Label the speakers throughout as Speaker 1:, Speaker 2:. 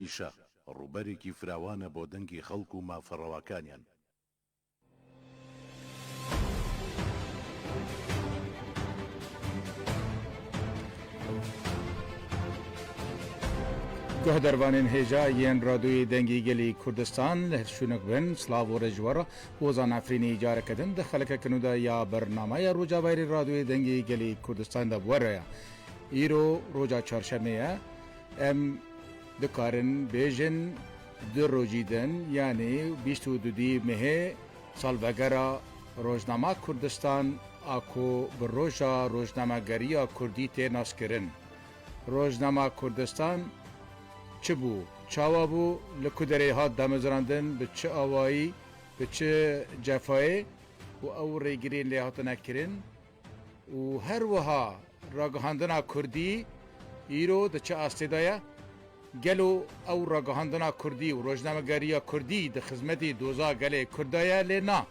Speaker 1: Îşa, rûberekî firawan e bo dengê xelk û mafa rewakaniyan. Guhdarvanên hêja yên Radoyê Dengê Gelê Kurdistan li her şûnek bin, silav û re ji we re. Hozan Efrînî careke din di xelekeke nû de ya bernameya Rojavayîrê Radoyê Dengê Gelê Kurdistan de bi we re ye. Îro roja Çarşemê ye. Em dikarin bêjin du rojî din yanî bîst û du dî Mehê salvegera Rojnama Kurdistan a ku bi Roja Rojnamegeriya Kurdî tê naskirin. Rojnama Kurdistan çi bû, çawa bû, li ku derê hat damezrandin, bi çi awayî, bi çi cefayê û ew rêgirên lê hatine kirin? Û her wiha ragihandina kurdî îro di çi astê de ye? Gelo ew ragihandina kurdî û rojnamegeriya kurdî di xizmetê doza gelê kurd de ye lê na.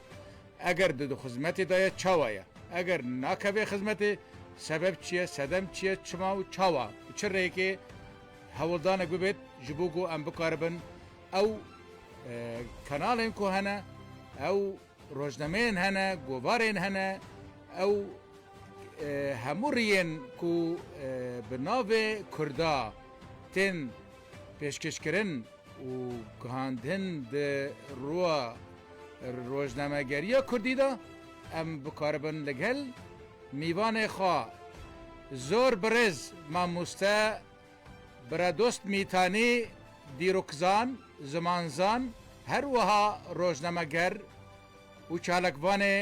Speaker 1: Eger di xizmetê de ye çawa ye? Eger nakeve xizmetê sebeb çi ye, sedem çi ye, çima û çawa? Bi çi rêkê hewldanek bibêt ji bo ku em bikaribin ew kanalên ku hene ew Rojnameyên hene, govarên hene, ew hemû riyên ku bi navê Kurda tên pêşkêşkirin û gihandin di roya rojnamegeriya Kurdî de em bikaribin li gel mîvanê xwe zor birêz mamoste Biradost Mîtanî dîrokzan, zimanzan her wiha rojnameger û çalakvanê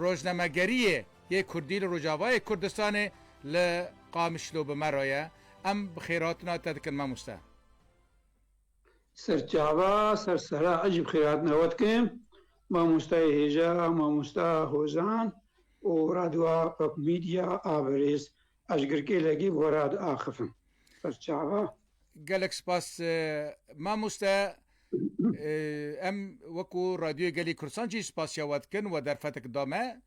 Speaker 1: rojnamegeriyê yê Kurdî li Rojavayê Kurdistanê li Qamişlo bi me re ye. Em bi xêrhatina te dikin mamoste. Serçava ser serra ez jî bi xêrhatina we dikim mamosteyê hêja, mamosta Hozan û Radio Xwekumîdya a birêz Ez girkêlekî gora diaxivim ser çava. Gelek spas mamoste. Em wekû Radyoyê Gelê Kurdistan jî spasîya we dikin we derfetek da me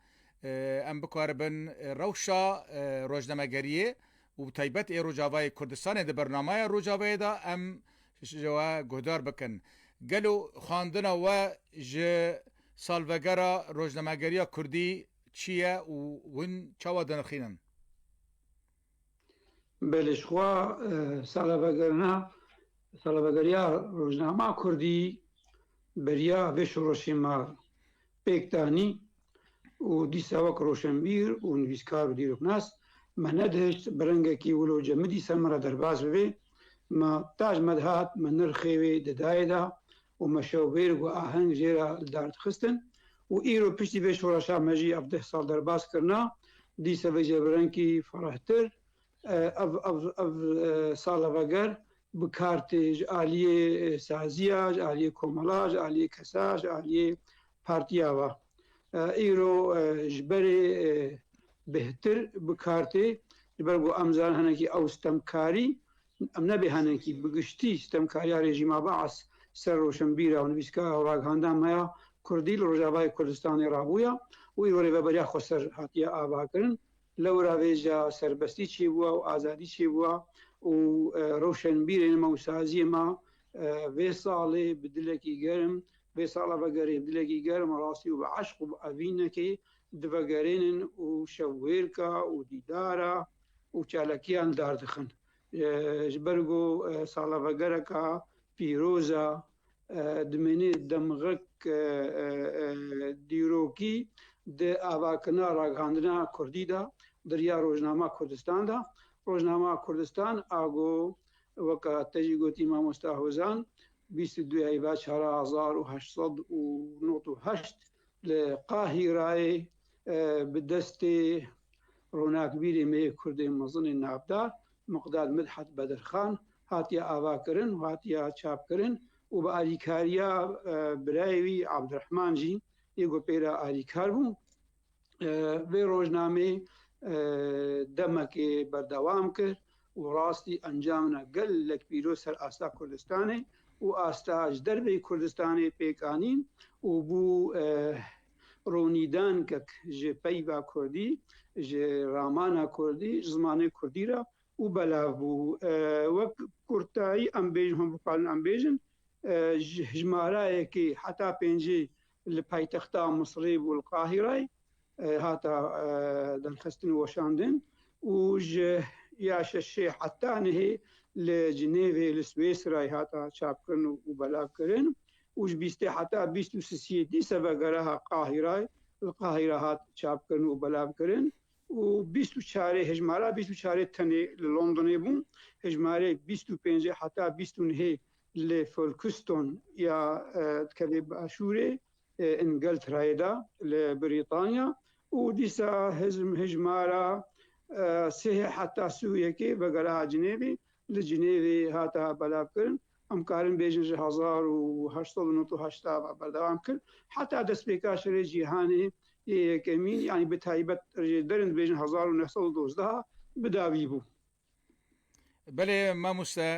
Speaker 1: em bikaribin rewşa rojnamegeriyê û bi taybet ê Rojavayê Kurdistanê di bernamaya Rojavayê de em ji we guhdar bikin. Gelo xwandina we ji salvegera rojnamegeriya Kurdî çi ye û hûn çawa dinirxînin? Belê jixwe salvegirina salvegiriya rojnama kurdî beriya vê şoreşê me pêk danî û dîsa wek roşenbîr û nivîskar û dîroknas me nedihişt bi rengekî wilo cemidî ser me re derbas bibê. Me taj me dihat me nirxê wê di dayê de û meşewbêrg û aheng jê re li dar dixistin û îro piştî vê şoreşa me jî ev deh sal derbas kirina, dîsa vê cevrengkî ferehtir ev ev ev sala veger bi kar tê ji aliyê saziya, ji aliyê komela, ji aliyê kesa, ji aliyê partiya ve. Îro ji berê bêhtir bi kar tê ji ber ku em zanin hinekî ew stemkarî Em nebêhenin kî bi giştî sitemkariya rejîma Baas ser rûşnbîra û nivîskaya û ragihandina me ya Kurdî li Rojavayê Kurdistanê rabûya û îro rêveberiya Xweser hatiye avakirin. Lewra vêca serbestî çêbûa û azadî çêbûa û rûşnbîrên me û saziyên me vê salê bi dilekî germ, vê sala vegerê bi dilekî germ rastî û bi eşq û bi evînekê divegerênin û şevwêrka û dîdara û çalakiyan dar dixin. Ji ber ku sala vegereka pîroz e, dimînê demgek dîrokî di avakirina ragihandina kurdî de diriya Rojnama Kurdistan de. Rojnama Kurdistan a got, weke te jî gotî Mamosta Hozan, bîst û du Eyba çar hezar û heşt sed û nod û heşt li Qahîreyê Bi destê ronakbîrê me yê Kurdê mezin ê navdar Miqdad Midhat Bedirxan hatiye avakirin û hatiye çapkirin û bi alîkariya birayê wî Abdirehman jî yê ku pê re alîkar bû vê rojnameyê demekê berdewam kir û rastî encamina gelek pîroz ser asta Kurdistanê û asta ji derveyî Kurdistanê pêk anîn û bû ronîdankek ji peyva kurdî, ji ramana kurdî, ji zimanê kurdî re û belav bû. Wek kurtayî em bêjin hûn bikarin em bêjin hijmarayekê heta pêncî li paytexta Misirê bû li Qahîrayê hata derxistin û weşandin û ji ya şeşê heta nehê li Cinêvê li Swêsrayê hata çapkirin û belavkirin. û ji bîstê heta bîst û sisiyê dîsa ve gereha Qahîrayê li Qahîra hat çapkirin û belavkirin û bîst û çarê hejmara bîst û çarê tenê li Londonê bû, hejmarê bîst û pêncê heta bîst û nehê li Folkiston ya dikeve başûrê Îngelterayê de li Brîtanya û dîsa hejmara sihê heta sû yekê ve gereha Cinêvê li Cinêvê hata belavkirin. Em karin bêjin ji hezar û heşt sed û nod û heşta ve berdewam kir heta destpêka Şerê Cîhanê yê Yekemîn yanî bi taybet jê derin dibêjin hezar û neh sed û dozdeh bi dawî bû. Belê mamoste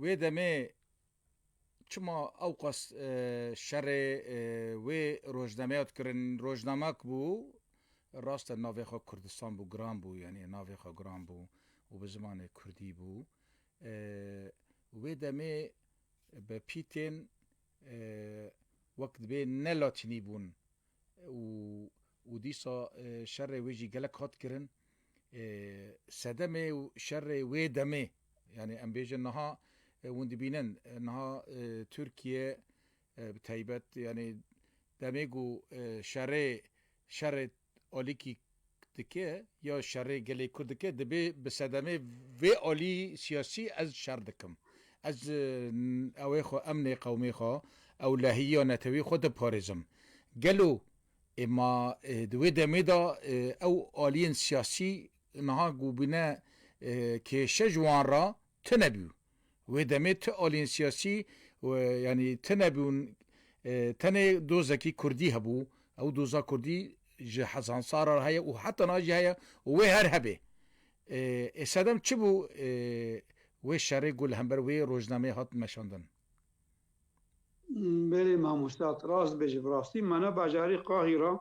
Speaker 1: wê demê çima ewqas şerê wê rojnameya dikirin rojnama ki bû rast e navê xwe Kurdistan bû giran bû yanî navê xwe giran bû û bi zimanê Kurdî bû. Wê demê bi pîtên wek dibê ne latînî bûn û dîsa şerê wê jî gelek hat kirin. Sedemê şerê wê demê yanî em bêjin niha hûn dibînin niha Tirkiye bi taybet yanî demê ku şerê şerê alîkî dike ya şerê gelê Kurd dike dibê bi sedemê vê alî siyasî ez şer dikim. Ez ewê xwe, emnê qewmê xwe, ewlehiya netewî xwe diparêzim. Gelo êma di wê demê de ew aliyên siyasî niha ku bûne kêşe ji wan re tune bû. Wê demê ti aliyên siyasî yanî ti nebûn, tenê dozekî kurdî hebû, ew doza kurdî ji hezan sal re heye û heta niha jî heye û wê her hebê. Ê sedem çi bû wê şerê ku li hember wê rojnameyê hat meşandin? Belê mamosta, tu rast dibêjî. Bi rastî me ne bajarê Qahîra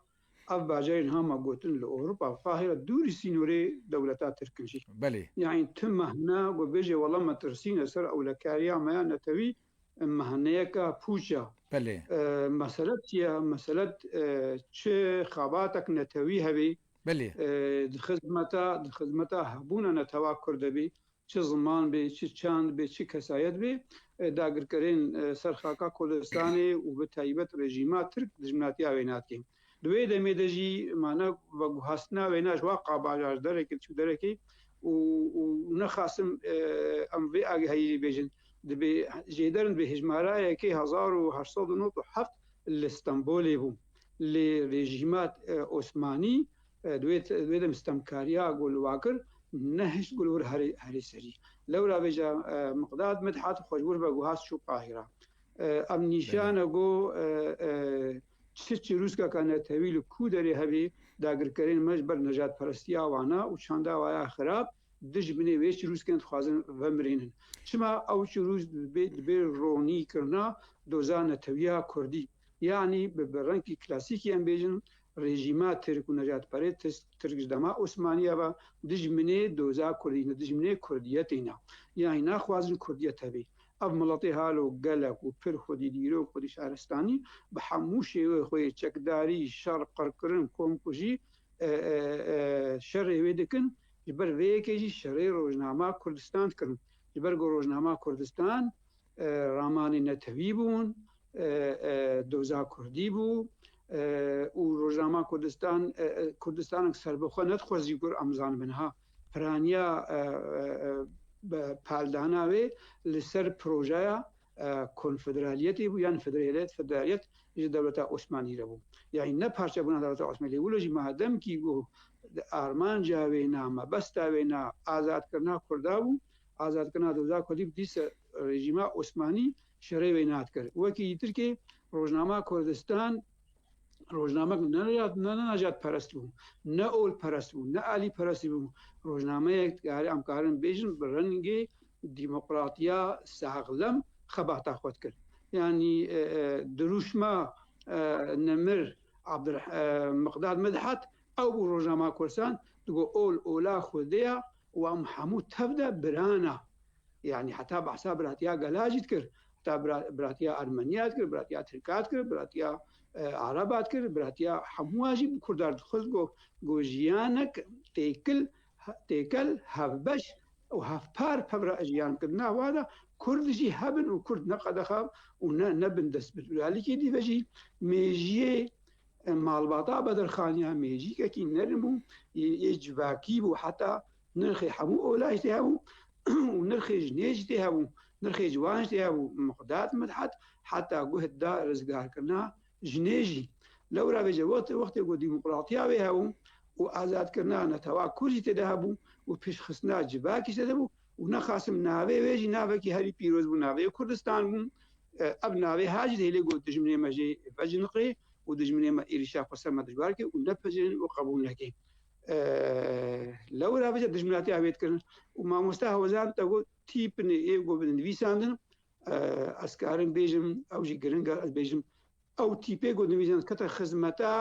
Speaker 1: Ev bajarên hama gotin li Ewropa xahê re dûrî sînorê dewleta tirk in jî. Belê. Yanî tu mehna ku bêjî wela me tirsîne ser ewlekariya me ya netewî mehneyeke pûç e. Belê. Mesele çi ye? Mesele çi xebatek netewî hebî. Belê. Di xizmeta di xizmeta hebûna netewa kurd de bî Çi ziman bê, çi çand bê, çi kesayet bê, dagirkerên ser xaka Kurdistanê û bi taybet rejîma Tirk dijminatiya wê nake. Di wê demê de jî mana veguhastina wêna ji wa qabaja ji derekê diçû derekê û nexasim em vê agehayî jî bêjin dibê jêderin dibê hejmarayekê hezar û heşt sed û nod û heft li Stenbolê bû lê rejîma Osmanî Divê dem stemkariya ku li wa kir nehişt ku li wir herî serî lewra bêje Miqdad Midhat xweşwir be ku hat çû Qahîra. Em nîşane ku çi çirûskeke netewî li ku derê hebî dagirkerên me ji ber nejatperestiya wan e û çanda wan ya xirab dijminê wê çirûskên dixwazin vemirînin. Çima ew çirûsk dibê ronî kirina doza netewiya kurdî. Yanî bi rengkî klasîkî em bêjin Rejîma Tirk û Nejatperêtist Tirk ji dema Osmaniye ve dijminê doza Kurdî ne, dijminê Kurdiyetê ne. Yanî naxwazin Kurdiyet hebe. Ev miletê halo gelek û pir xwedî dîrok, xwedî şaristanî bi hemû şêwê xwe yê çekdarî, şer, qirkirin, komkujî şerê wê dikin. Ji ber vê yekê jî şerê rojnama Kurdistan dikin. Ji ber ku rojnama Kurdistan Ramanê netewî bûn, doza kurdî bû û rojnama Kurdistan Kurdistanek serbixwe nedixwezî ku em zanibin ha. Piraniya paldana wê li ser projeya konfederaliyetê bû yan federaliyet federaliyet ji dewleta Osmanî re bû. Yanî ne parçebûna dewleta Osmanî lê wilo jî madem kî armanca wê na mebesta wê na azadkirina Kurda bû Azadkirina doza kurdî bi dîsa rejîma Osmanî şerê wê nat kir. Wekî yî Tirkê rojnama Kurdistan rojnamek ne ne najat perest bû, ne ol perest bû, ne alî perestî bû. Rojnameyek dikarî em karin bêjin bi rengê demokratiya saxlem xebata xwe dikir. Yanî dirûşma Nemir Abdul Miqdad Midhat Ew bû roja ma kursan digo ol ola xwedêya û em hemû tev de biran a. Yanî heta behsa biratiya gela jî dikir, heta biratiya ermeniya dikir, biratiya tirka dikir, biratiya ereba dikir, biratiya hemû a jî bi kurda re xwest got ku jiyanek têkil têkel hevbeş û hevpar pevra jiyan bikin. Nah wada kurd jî hebin û kurd ne qedexa û ne nebin destbil. Û ya likê dî ve jî mêjiyê Malbata Bedirxaniya mejîkekî nirm bû, yê civakî bû heta nirxê hemû ola jî tê hebû û nirxê jinê jî tê hebû, nirxê ciwan jî tê hebû. Miqdad Midhet heta guh da rizgarkirina jinê jî. Lewra vê cevotê wextê ku demokratiya wê hebû û azadkirina netewa kurd jî tê de hebû û pêşxistina civakî jî tê de bû, û ne Qasim navê wê jî navekî herî pîroz bû navê Kurdistan bû ev navê her jî dihêlê got dijminê me jê veciniqê û dijminê me êrîşa xwe ser me dijwar kir û nepejirîn û qebûl nekê lewra vêce dijminatiya wê dikirin û mamosta hewezan te got tîpinê ê got binivîsandin ez karin bêjim ew jî giringa ez bêjim Ew tîpê ku divîzin dikete xizmeta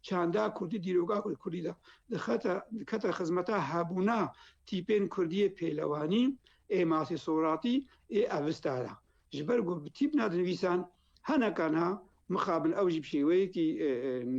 Speaker 1: çanda kurdî dîroka ku li kurdî de dixete dikete xizmeta hebûna tîpên kurdî yê pêlewanî ê Masî Soratî ê Avesta de. Ji ber ku bi tîp nadinivîsan heneka niha mixabin ew jî bi şêweyekî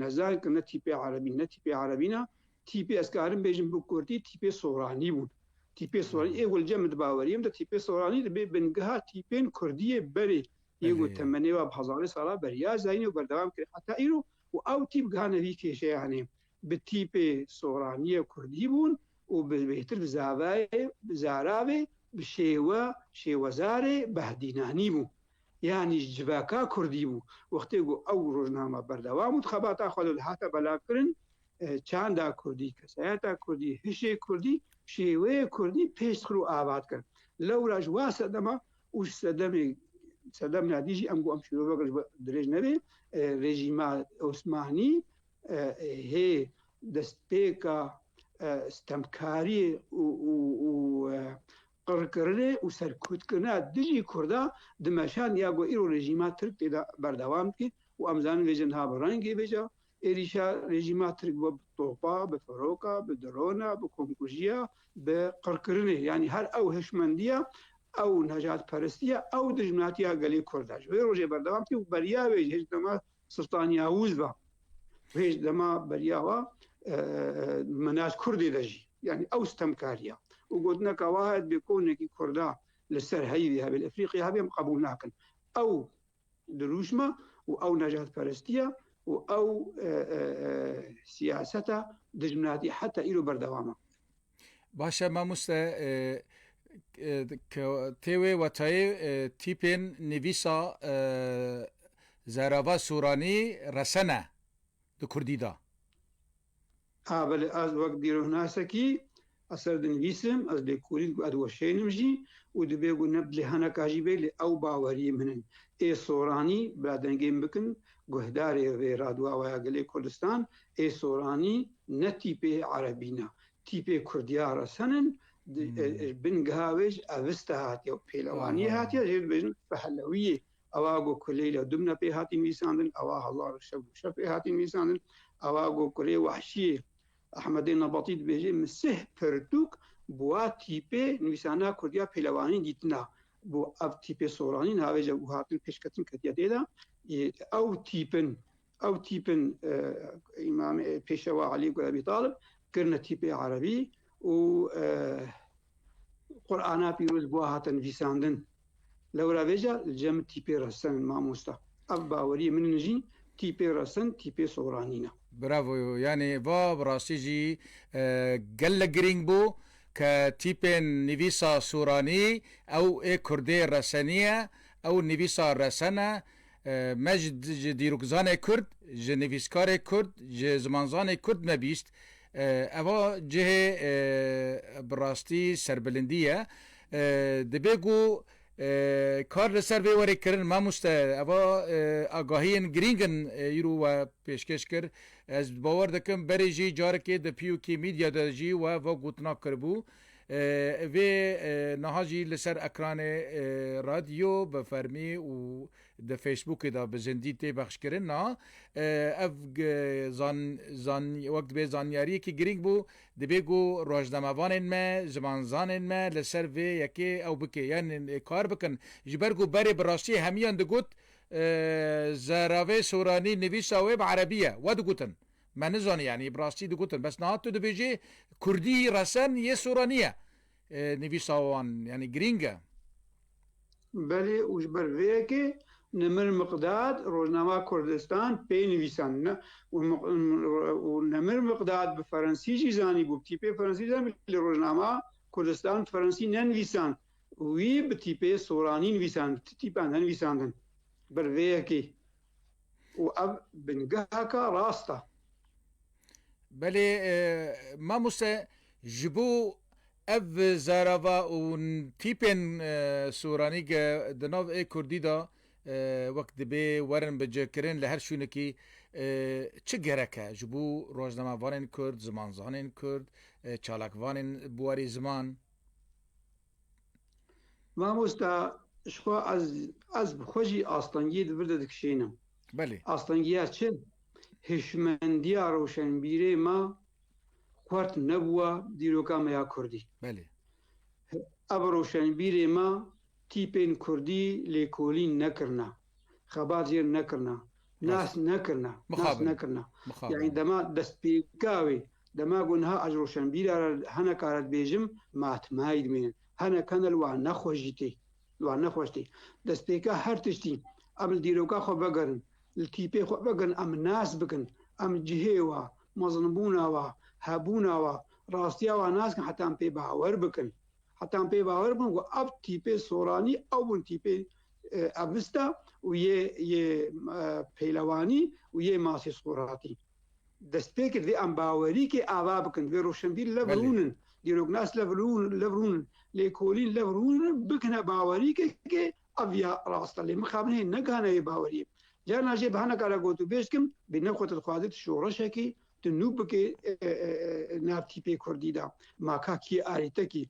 Speaker 1: nezanik in ne tîpê erebî ne tîpê erebî ne tîpê ez karim bêjim bi kurdî tîpê soranî bûn. Tîpê soranî ê welcem di baweriyê min de tîpê soranî dibê bingeha tîpên kurdî yê berê Yê ku temenê we bi hezarê salan beriya zayîn û berdewam kir heta îro û ew tîp gihane vî kêşeyanê. Bi tîpê soraniyê kurdî bûn û bi bêhtir bi zavayê, zaravê, bi şêwe, şêwezarê, behdînanî bû. Yanî ji civaka kurdî bû. Wextê ku ew rojname berdewam bû di xebata xwe de dihate belavkirin, çanda kurdî, kesayeta kurdî, hişê kurdî, şêweyê kurdî pêş dixir û ava dikir. Lewra ji wa sedema û ji sedemê sedem nadî jî em ku em şîrovek ji dirêj nebe rejîma Osmanî hê destpêka stemkariyê û qirkirinê û serkutkirina dijî Kurda dimeşand ya ku îro rejîma Tirk tê de berdewam dike û em zanin vê jin ha bi rengê bêje Êrîşa rejîma Tirk bo bi topa, bi firoka, bi drona, bi komkujiya, bi qirkirinê yanî her ew hişmendiya, ew nejatperestiya, ew dijminatiya gelê Kurd e. Ji wê rojê berdewam tê û beriya wê ji hêj dema Sultan Yawûz ve û hêj dema beriya we minaj Kurdê de jî yanî ew stemkariya û gotineka wiha dibê konekî Kurda li ser heyvê hevê li Efrîqya hevê em qebûl nakin. Ew Dirûşma û ew nejatperestiya û ew siyaseta dijminatî heta îro berdewam e. Baş e mamoste tê wê wetayê tîpên nivîsa Zerava Sûranî resene di kurdî de? A belê ez wek dîrohnasekî ez ser dinivîsim, ez lê kûrîn ku ez weşênim jî û dibê ku ne bi lê heneka jî bê lê ew baweriyê min in. Ê soranî bila dengên bikin guhdarê vê radwawaya gelê Kurdistan, ê soranî ne tîpê erebî ne, tîpê kurdiya resen in, bin geha wê jî eviste hatiye û pêlewaniyê hatiye jê dibêjin pehlewiyê Ewa got ku Leyla Dubna pê hatî nivîsandin, ewa Halla Rişev Rûşev pê hatî nivîsandin, ewa got kurê wehşiyê Ehmedê Nebatî dibêje Misih pirtûk bi wa tîpê nivîsana kurdiya pêlevanî dîtina bo ev tîpê soranî niha vê je û hatin pêşketin ketiye tê de ew tîpin ew tîpin îmam pêşewa Elî Gul Ebî Talib kirine tîpê erebî û Qur'ana pîroz bo hatin nivîsandin. Lewra vê ca li cem tîpê resenin mamosta. Ev baweriyê min in jî tîpê resin tîpê soranîn e. Bravo yo yanî va bi rastî jî gelek girîng bû ke tîpên nivîsa soranî ew ê kurdê resenî ye ew nivîsa resen e me ji dîrokzanê kurd ji nivîskarê kurd ji zimanzanê kurd me bîst Eva cihê bi rastî serbilindî ye. Dibe ku kar li ser vê were kirin mamoste. Eva agahiyên girîng in îro we pêşkêş kir. Ez bi bawer dikim berê jî carekê di PUK Media de jî we va gotina kiribû. Vê niha jî li ser ekranê radyo bi fermî û Di Facebookê de bi zindî tê bexşkirin a ev zan wek dibe zanyariyekî girîng bû dibê ku rojnamevanên me, zimanzanên me li ser vê yekê ew bike yan kar bikin ji ber ku berê bi rastiyê hemiyan digot Zeravê Soranî nivîsa wê bi erebî ye we digotin me nizanî yanî bi rastî digotin bes niha tu dibêjî kurdî resen yê Soranî ye Nivîsa wan yanî girîng e. Belê û ji ber vê yekê Nemir Miqdad Rojnama Kurdistan pê nivîsan û Nemir Miqdad bi ferensî jî zanîbû, bi tîpê ferensî zanîbû lê Rojnama Kurdistan bi ferensî ne nivîsand, wî bi tîpê soranî nivîsand, bi ti tîpan ne nivîsandin ber vê yekê û ev bingeha ka rast e. Belê mamoste ji bo ev zarava û tîpên soranî ke di nav ê kurdî de wek dibê werin bicikirin li her şûnekî çi gerek e ji bo rojnamevanên kurd, zimanzanên kurd, çalakvanên bi warî ziman? Mamosta ji xwe ez ez bi xwe jî astengiyê di vir de dikişênim. Belê. Astengiya çi? Hişmendiya rewşenbîrê me xwert nebûwa dîroka me ya Kurdî. Belê. Ev rewşenbîrê me tîpên Kurdî lêkolîn nekirine. xebat jê re nekirina, nas nekirina, nas nekirina. Yanî dema destpêka wê, dema ku niha ez roşenbîra re heneka re dibêjim, ma timay dimînin. Henek hene li wan nexweş jî tê. Li wan nexweş tê. Destpêka her tiştî em li dîroka xwe vegerin, li tîpê xwe vegerin, em nas bikin, em cihê wa, mezinbûna wa, hebûna wa, rastiya wa nas bikin heta em pê bawer bikin. Heta em pê bawer bikin ku ev tîpê soranî, ew bin tîpê Avista û yê yê pêlewanî û yê masê sxuratî. Dest pê kir vê em bawerî kê ava bikin vê roşenbîr lev rûnin dîroknas lev rûnin lev rûnin lêkolîn lev rûnin bikine bawerî kê kê ev ya rast e lê mixabinê negihane yê bawerî. Carna jê bi hene kara got û bêj kim bê ne xwe te dixwaze tu şoreşekî tu nû bikê navtîpê kurdî de makakî arîtekî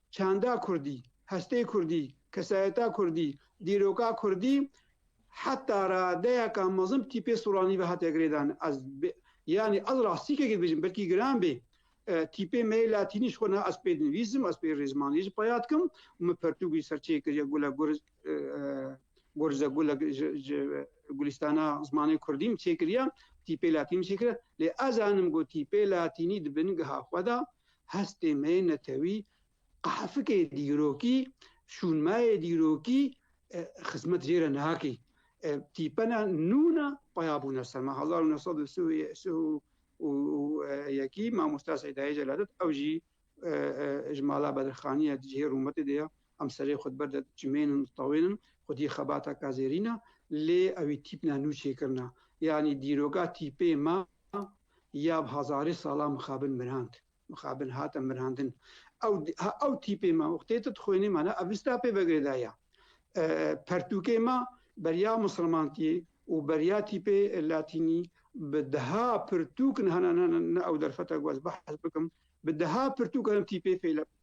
Speaker 1: Çanda kurdî, hestê kurdî, kesayeta kurdî, dîroka kurdî heta radeyeka mezin tî pê soranî ve hate girêdan. Ez yanî ez rastîkekê dibêjim belkî giran bê. Tîpê me yê latînî ji xwe ne ez pê dinivîsim, ez pê rêzmanî jî peya dikim û min pertûk jî ser çê kiriye gule gur gurze gule ji gulîstana zimanê kurdî min çê kiriye, tîpê latînî min çê kiriye. Lê ez zanim ku tîpê latînî di bingeha xwe de hestê me netewî qehefikê dîrokî, şûnmayê dîrokî xizmet jê re nakî. Tîpena nûna paya bûna ser me hezar û neh sed û sih û yekî mamosta Seydayê Celadet ew jî ji mala Bedirxaniyê cihê rûmetê de ye Em serê xwe di ber de dicimênin, ditewênin, xwedî xebata ka zêrîn e, lê ewî tîp ne, nû çêkirin e. Yanî dîroka tîpê me ya bi hezarê salan mixabin mirand, mixabin hate mirandin. Ew ew tîpê me wextê tu dixwênî mane Avesta pê vegirêdaye. Pertûkê me beriya mislimantiyê û beriya tîpê latînî bi deha pirtûk ne ne ne ew derfeta ku ez behs bikim, bi deha pirtûk herin tîpê fêlek.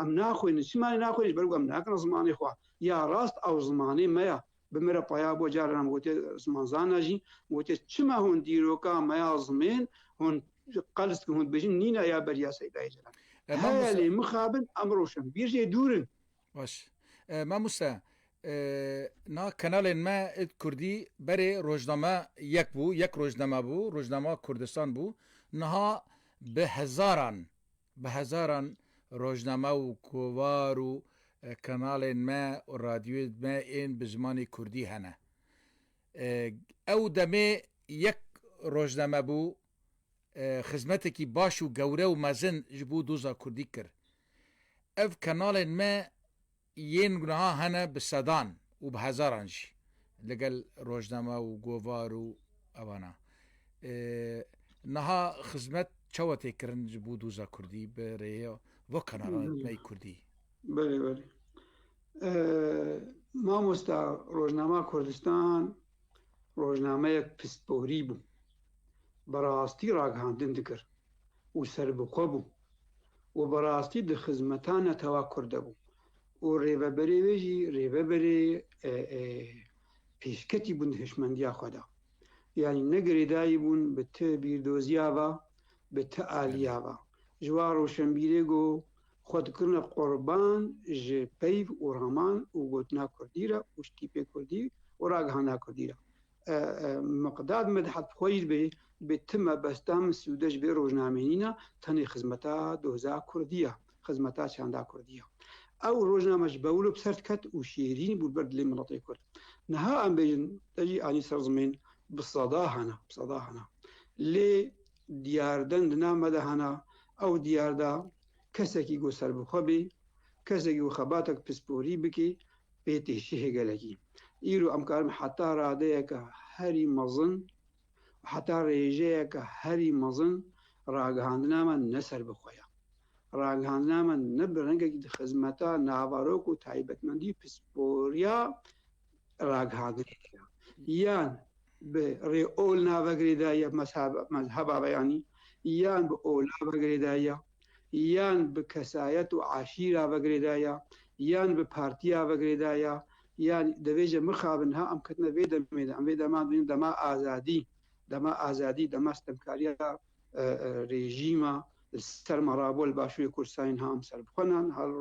Speaker 1: Em naxwînin. Çima lê naxwînin? Ji ber ku em nakin zimanê xwe. Ya rast ew zimanê me ya. Bi min re paya bû carên em gotiye zimanzan e jî. Min gotiye çima hûn dîroka me ya zimên hûn qels dikin, hûn dibêjin nîna ya beriya Seydayê Celal. Heye lê mixabin em roşenbîr jê dûr in. Baş e Mamoste. Na kanalên me it kurdî berê rojname yek bû, yek rojname bû, Rojnama Kurdistan bû. Niha bi hezaran Bi hezaran rojname û kovar û kanalên me û radyoyên me ên bi zimanê kurdî hene. Ew demê yek rojname bû xizmetekî baş û gewre û mezin ji bo doza kurdî kir. Ev kanalên me Yên gunahan hene bi sedan û bi hezaran jî li gel rojname û govar û evan a. Niha xizmet çawa tê kirin ji bo doza kurdî bi rêya va kanalan li me kurdî? Belê belê. Mamosta Rojnama Kurdistan rojnameyek pisporî bû. Bi rastî ragihandin dikir û serbixwe bû. û bi rastî di xizmeta netewa kurd de bû û rêveberê wê jî rêveberê pêşketî bûn di hişmendiya xwe de. Yanî ne girêdayî bûn bi ti bîrdoziya ve, bi ti aliya ve. Ji wan roşenbîrê go xwe dikirine qurban ji peyv û raman û gotina kurdî re û stîpê kurdî û ragihana kurdî re. Miqdad Medhat xwe jî dibê dibê ti mebesta min sûde ji vê rojnameyîna tenê xizmeta doza kurdî ya, xizmeta çanda kurdî ya. Ew rojname ji Bewlo bi ser diket û şêrîn bû li ber dilê miletê kurd. Niha em bêjin te jî anî ser zimên bi seda hene, bi seda hene. Lê diyar den di nav me de hene, ew diyar de kesekî ku serbixwe bê, kesekî ku xebatek pisporî bikê, Bê têşihê gelekî, îro em karin heta radeyeke herî mezin û heta rêjeyeke herî mezin ragihandina me ne ser bi xwe ye. Ragihandina me ne bi rengekî di xizmeta navarok û taybetmendî pisporiya ragihandinê de ye yan bi rê olnavegirê de ye, mezheba me yanî, yan bi olnavegirê de ye, yan bi kesayet û eşîra ve girêdayî ya, yan bi partiya ve girêdayî ya, yan divê jî mixabin niha em ketine vê demê de. Em vê dema dibînin dema azadî, dema azadî, dema sitemkariya rejîma li ser ma rabû li Başûrê Kurdistanê niha em serbixwe ne, niha li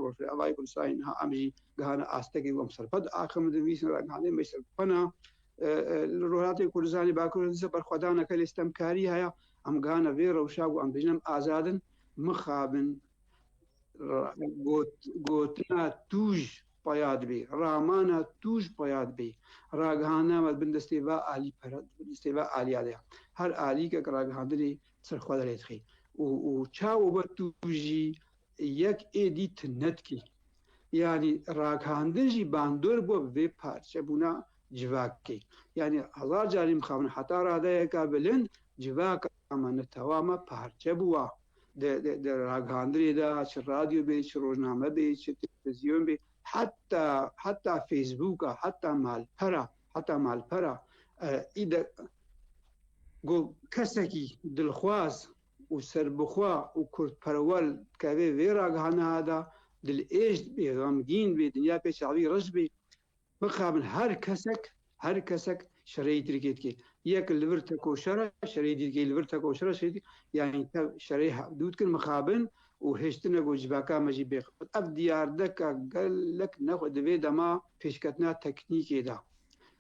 Speaker 1: Rojavayê Kurdistanê niha em jî gihane astekê ku em serxwe diaxivin di nivîsên ragihandinê em jî serbixwe ne. Li Rojhilatê Kurdistanê, Bakurê Kurdistanê berxwedaneke lê sitemkarî heye. Em gihane vê rewşa ku em dibêjin em azad in, mixabin. Gotina tûj peya dibê, ramana tûj peya dibê. Ragihandina me di bin destê va alî pere, di bin destê va aliya de ye. Her alîkek ragihandinê li ser xwe derê dixê û çawa we tûjî Yek êdî tu nedikî. Yanî ragihandin jî bandor bû bi vê parçebûna civakê. Yanî hezar carî mixabin heta radeyeke bilind civaka me ne tewa me parçe bûwa. Di di ragihandinê de çi radyo bê, çi rojname bê, çi televizyon bê, heta heta fêsbûka, heta malpera, heta malpera î de ku kesekî dilxwaz û serbixwe û kurdperwer dikeve vê ragihandina de, Dilêj dibê, xemgîn dibê, dinya pê çavî reş dibê. Bixabin her kesek, her kesek şereyî Tirkiyê dike. Yek li vir tekoşer e, şereyî Tirkiyê li vir tekoşer e, şereyî Tirkiyê yanî tev şereyî hevdû dikin, mixabin û hêştine ku civaka me jî bêxebit. Ev diyardeka gelek nexwe di vê dema pêşketina teknîkê de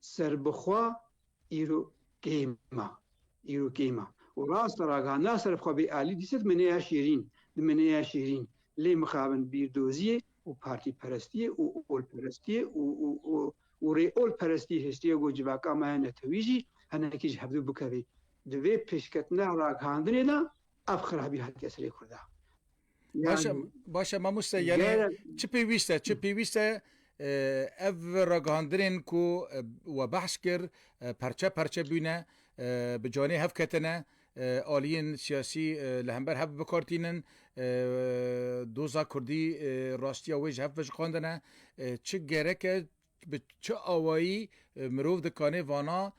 Speaker 1: Serbixwe îro keyma, îro keyma. Û rast raga na serbixwe bê alî dîsa di meneya şêrîn, di meneya şêrîn lê mixabin bîrdoziyê û partîperestiyê û olperestiyê û û û û rê olperestî hiştiye ku civaka me ya netewî jî hinekî ji hevdu bikevê. Di vê pêşketina ragihandinê de ev xirabî hatiye serê Kurda. Başa başa mamoste yani çi pêwîst e çi pêwîst e ev ragihandinên ku we behs kir perçe perçe bûne bi canê hev ketine aliyên siyasî li hember hev bikartînin doza kurdî rastiya wê ji hev vejixandine çi gerek e Bi çi awayî mirov di kanê vana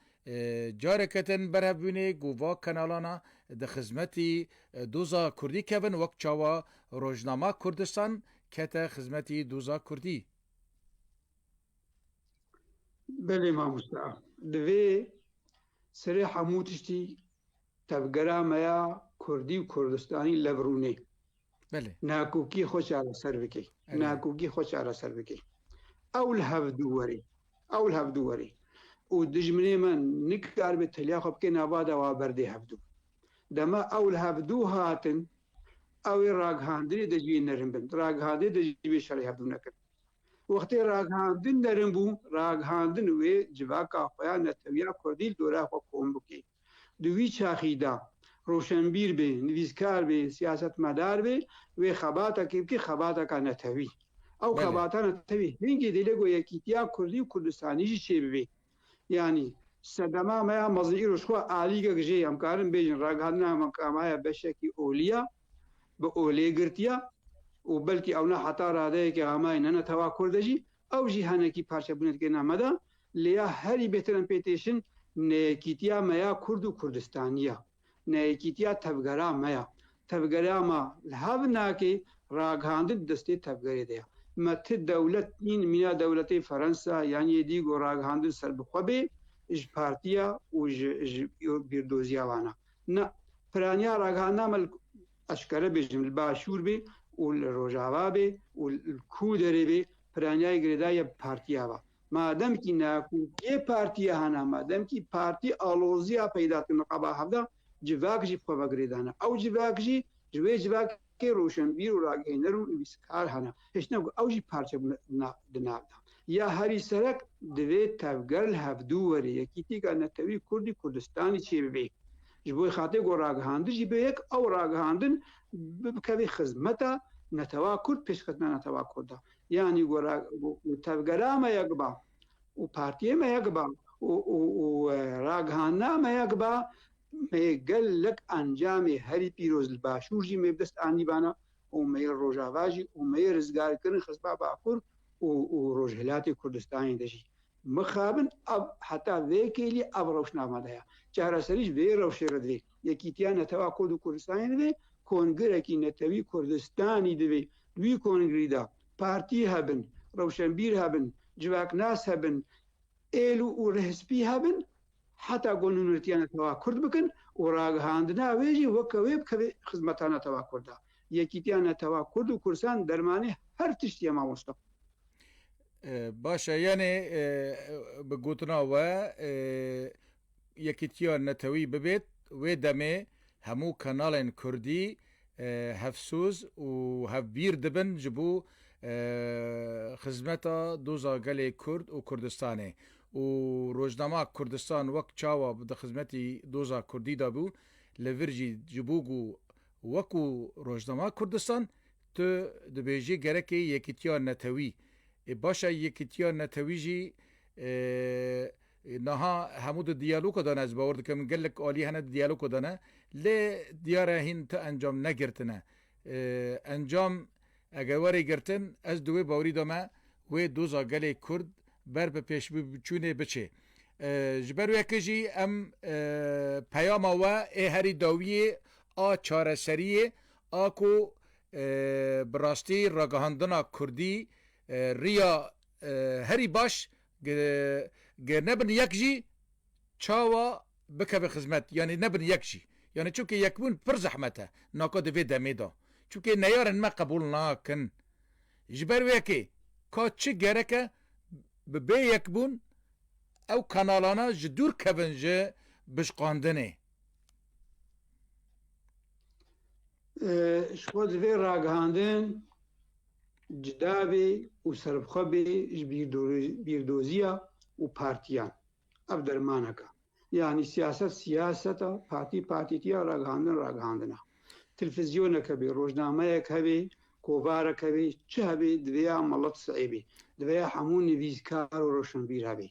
Speaker 1: careke tên berhevbûnê ku va kanalan di xizmetî doza kurdî kevin wek çawa Rojnama Kurdistan kete xizmetî doza kurdî? Belê mamoste a. Divê serê hemû tiştî tevgera me ya kurdî û kurdistanî lev rûnê. Belê. Nehekokî xwe çareser bike. Nehekokî xwe çareser bike. Ew li hev dû were. Ew li hev dû were. Û dijminê me nikaribe teliya xwe bike nava de wa berdê hev dû. Dema ew li hev dû hatin, ew ê ragihandinê de ji wê nerin bin. Ragihandinê de ji wê şerê hev dû nekin. Wextê ragihandin nerin bû, ragihandin wê civaka xwe ya netewiya kurdî li dora xwe kom bike. Di wî çaxî de roşenbîr bê, nivîskar bê, siyasetmedar bê wê xebatekê bike xebateka netewî. Ew xebata netewî hingî dê lê ku yekîtiya kurdî û kurdistanî jî çêbibe. Yanî sedema me ya mezin îro ji xwe alîgek jê ye. Em karin bêjin ragihandina me ka maye beşekî olî ye, bi olê girtiye û belkî ewna heta radeyekê amayî ne ne tewa kurd e jî Ew jî henekî parçebûnê dike na me de, lê ya herî bêtir em pê têşin neyekîtiya me ya Kurd û Kurdistanî ye. Neyekîtiya tevgera me ye. Tevgera me li hev nake ragihandin di destê tevgerê de ye. Me ti dewlet nîn mîna dewletê Ferensa yan yê dî ku ragihandin ser bi xwe bê ji partiya û ji bîrdoziya wan e. Na, piraniya ragihandina me li Ez kere bêjim li başûr bê û li rojava bê û li kû derê bê piranyayê girêdayî ya partiya va. Ma demkî na kû yê partiya hana ma demkî partî aloziya peyda dike niqaba hevda civak jî bi xwe ve girêdana. Ew civak jî ji wê civakê roşenbîr û ragihêner û nivîskar hene. Hiştina ku ew jî parçe bûne di nav de. Ya herî serek divê tevger li hevdû werê yekîtîka netewî kurdî kurdistanî çêbibê. Ji bo xatirê ku ragihandin jî bê yek ew ragihandin bikeve xizmeta netewa kurd pêşxistina netewa kurd de. Yanî ku tevgera me yek ba û partiyê me yek ba û ragihandina me yek ba me yê gelek encamê herî pîroz li başûr jî me bi dest anîbana û me yê rojava jî û me yê rizgarkirin xizma bakur û rojhilatê Kurdistanê de jî. Mixabin ev heta vê kêlî ev rewş namadeya çareserî ji vê rewşê re divê. Yekîtiya Netewa Kurd û Kurdistanê divê kongirekî netewî Kurdistanî divê. Di wî kongirî de partî hebin, rewşenbîr hebin, civaknas hebin, êl û rihspî hebin Heta ku nûnertiya netewa kurd bikin û ragihandina wê jî weke wê bikeve xizmeta netewa kurd de. Yekîtiya netewa kurd û kursan dermanê her tiştî ye ma Mûstab. Baş e yanê bi gotina we yekîtiya netewî bibêt wê demê hemû kanalên kurdî hevsoz û hevbîr dibin ji bo xizmeta doza gelê Kurd û Kurdistanê û rojnama Kurdistan wek çawa di xizmetî doza Kurdî de bû li vir jî ji bo ku wekû rojnama Kurdistan tu dibêjî gerekê yekîtiya netewî ê baş e yekîtiya netewî jî Niha hemû di diyaloka de ne, ez bawer dikim gelek alî hene di diyaloka de ne, lê diyar e hîn ti encam negirtine. Encam eger were girtin, ez di wê bawerî de me, wê doza gelê Kurd ber bi pêşçûnê biçê. Ji ber weke jî em peyama we ê herî dawiyê a çareserî ye, a ku bi rastî ragihandina Kurdî riya Herî baş ger nebin yek jî çawa bikevin xizmet yanî nebin yek jî yanî çimkî yekbûn pir zehmet e naka di vê demê de çimkî neyarên me qebûl nakin ji ber wê yekê ka çi gerek e bi bê yekbûn ew kanalana ji dûr kevin ji bişqandinê. Ji bo di vê ragihandin. Cuda bê û serbixwe bê ji bîrdoziya û partiyan. Ev dermanek e. Yanî siyaset siyaset e, partî partîtiya, ragihandin ragihandin e. Tilfizyonek hebê, rojnameyek hebê, kovarek hebê, çi hebê divê ya melet sey bê. Divê ya hemû nivîskar û roşenbîr hebê.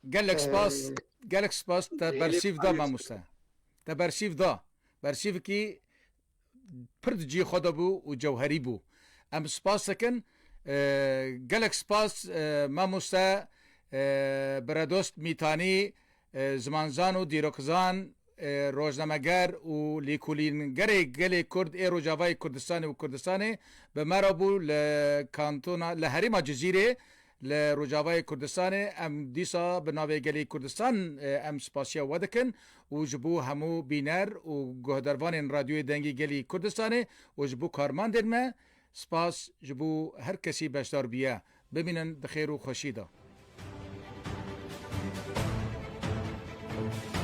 Speaker 1: Gelek spas, gelek spas te bersîv da mamoste. Te bersîv da. Bersîvkî Pir di cihê xwe de bû û cewherî bû. Em spas dikin. Gelek spas mamoste Beredost Mîtanî, zimanzan û dîrokizan, rojnameger û lêkolîngerê gelê Kurd ê Rojavayê Kurdistanê û Kurdistanê bi me re bû li kantona li herêma Cizîrê Li Rojavayê Kurdistanê em dîsa bi navê gelê Kurdistan em spasiya we dikin û ji bo hemû bîner û guhdarvanên Radyoyê Dengî Gelî Kurdistanê û ji bo karmandên me spas ji bo her kesî beşdar bûye. Bimînin bi xêr û xweşî de.